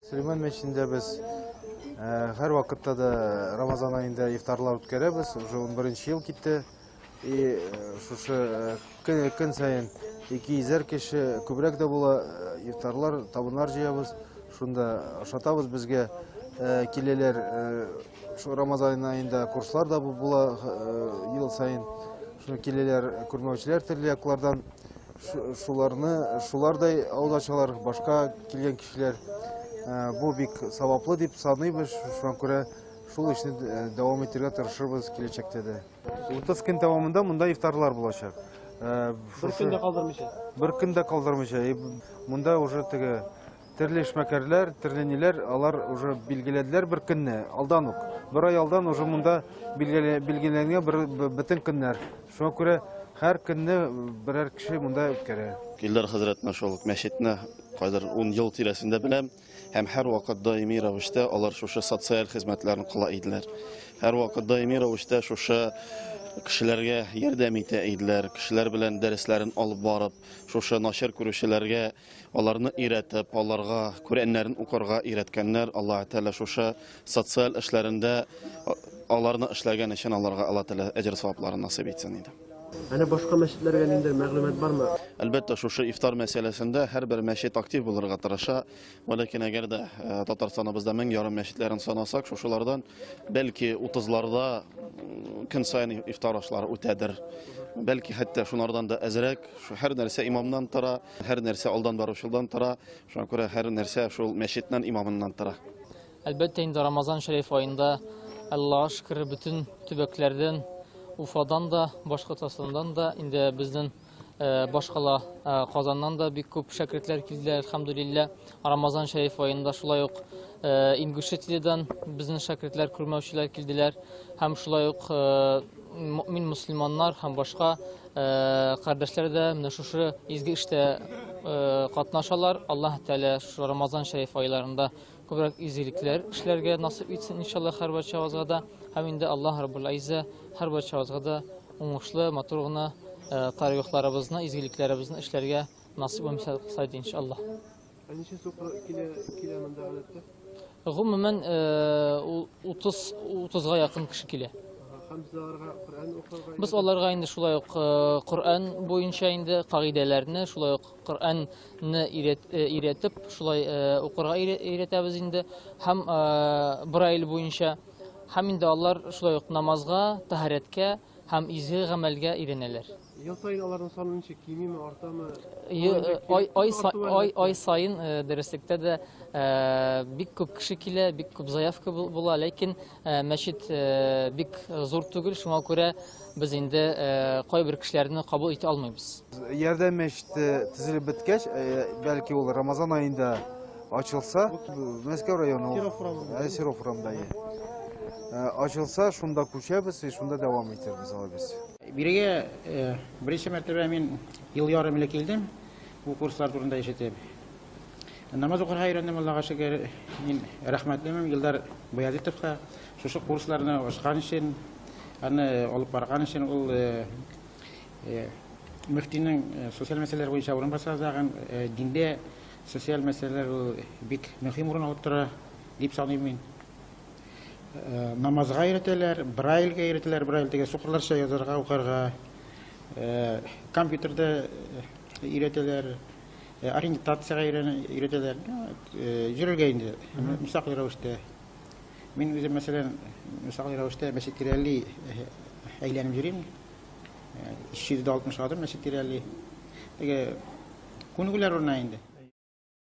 Сөлейман мәчетендә без һәр вакытта да Рамазан аенда ифтарлар үткәрәбез. Уже 11 ел китте. И шушы көн сайын ике йөзәр кеше күбрәк дә була ифтарлар, табыннар җыябыз. Шунда ашатабыз безгә киләләр Шул Рамазан айында курслар да була э, ел сайын. Шуны киләләр күрмәүчеләр төрле яклардан. Шуларны, шулардай алдачалар, башка килгән кешеләр э, бу бик саваплы дип саныйбыз. Шуңа күрә шул эшне э, дәвам итәргә тырышырбыз киләчәктә дә. 30 көн дәвамында монда ифтарлар булачак. Бер көн дә калдырмыйча. Бер көн дә калдырмыйча. Монда уже теге Төрле эшмәкәрләр, төрле ниләр, алар уже билгеләделәр бер көнне, алдан ук. Бер ай алдан уже монда билгеләнгән бер бөтен көннәр. Шуңа күрә һәр көнне берәр кеше монда үткәрә. Илдар хәзрәтне шул мәчетне кайдыр 10 ел тирәсендә беләм һәм һәр вакыт даими рәвештә алар шушы социаль хезмәтләрне кыла иделәр. Һәр вакыт даими рәвештә шушы кешеләргә ярдәм итә иделәр, кешеләр белән дәресләрен алып барып, шушы начар күрүчеләргә аларны өйрәтеп, аларга Коръәннәрен укырга өйрәткәннәр. Аллаһ Тәгалә шушы социаль эшләрендә аларны эшләгән өчен аларга Аллаһ Тәгалә әҗер савапларын насыйп итсен иде. Әле башка мәчетләргә ниндидер мәгълүмат бармы? Әлбәттә, шушы ифтар мәсьәләсендә һәрбер мәчет актив булырга тырыша. Вәләкин әгәр дә э, Татарстаныбызда мең ярым мәчетләрен санасак, шушылардан бәлки 30-ларда көн саен ифтар ашлары үтәдер. Бәлки хәтта шунардан да әзрәк. Һәр нәрсә имамнан тора, һәр нәрсә алдан баручылдан тора. Шуңа күрә һәр нәрсә шул мәчетнән имамыннан тора. Әлбәттә инде Рамазан шәриф аенда Аллаһ шөкер бөтен төбәкләрдән Уфадан да, Башкортостаннан да, инде безнең э, башкала э, Казаннан да бик күп шәкертләр килде, әлхәмдулиллә. Рамазан шәриф аенда шулай ук э, Ингушетиядән безнең шәкертләр, күрмәүчеләр килделәр. Һәм шулай ук мөмин мөселманнар һәм башка кардәшләр дә менә шушы изге эштә катнашалар. Аллаһ Тәгалә шушы Рамазан шәриф айларында күбрәк изгелекләр эшләргә насыйп итсен иншаллаһ һәр барчабызга да. Һәм инде Аллаһ Раббул Айза һәр барчабызга да уңышлы, матур гына тарихларыбызны, изгелекләребезне эшләргә насыйп итсен иншаллаһ. Ә ничә сукыр килә, килә монда гадәттә? Гомумән, 30 30га якын кеше килә. Һәм без аларга Коръән укырга Без аларга инде шулай ук Коръән буенча инде кагыйдәләрне, шулай ук Коръәнне өйрәтеп, шулай укырга өйрәтәбез инде. Һәм Брайль буенча һәм инде алар шулай ук намазга, тәһарәткә, һәм изге гамәлгә өйрәнәләр. Ел саен аларның саны ничек кимиме, артамы? Ай саен э, дөреслектә дә э, бик күп кеше килә, бик күп заявка була, ләкин э, мәчет бик зур түгел, шуңа күрә без инде кайбер кешеләрне кабул итә алмыйбыз. Ярдәм мәчете төзелеп беткәч, бәлки ул Рамазан аенда Ачылса, Мәскәү районы, Серов урамында. Ачылса, шунда күчәбез, шунда дәвам итәрбез алай без. Бирегә беренче мәртәбә мин ел ярым элек килдем, бу курслар турында ишетеп. Намаз укырга өйрәндем, Аллага шөкер. Мин рәхмәтлемен Илдар Баязитовка шушы курсларны ачкан өчен, аны алып барган өчен ул мөфтинең социаль мәсьәләләр буенча урынбасары дигән диндә Социаль мәсьәләләр ул бик мөһим урын алып тора дип саныйм мин. Э, намазга өйрәтәләр, брайльгә өйрәтәләр, брайль дигән сукырларча язарга, укырга. Э, компьютерда э, өйрәтәләр, ориентацияга өйрәтәләр. Йөрергә инде, мисал рәвештә. Мин үзем, мәсәлән, мисал рәвештә мәчеткә әйләнеп йөрим. 360 адым мәчет тирәли. Теге күнегүләр урына инде.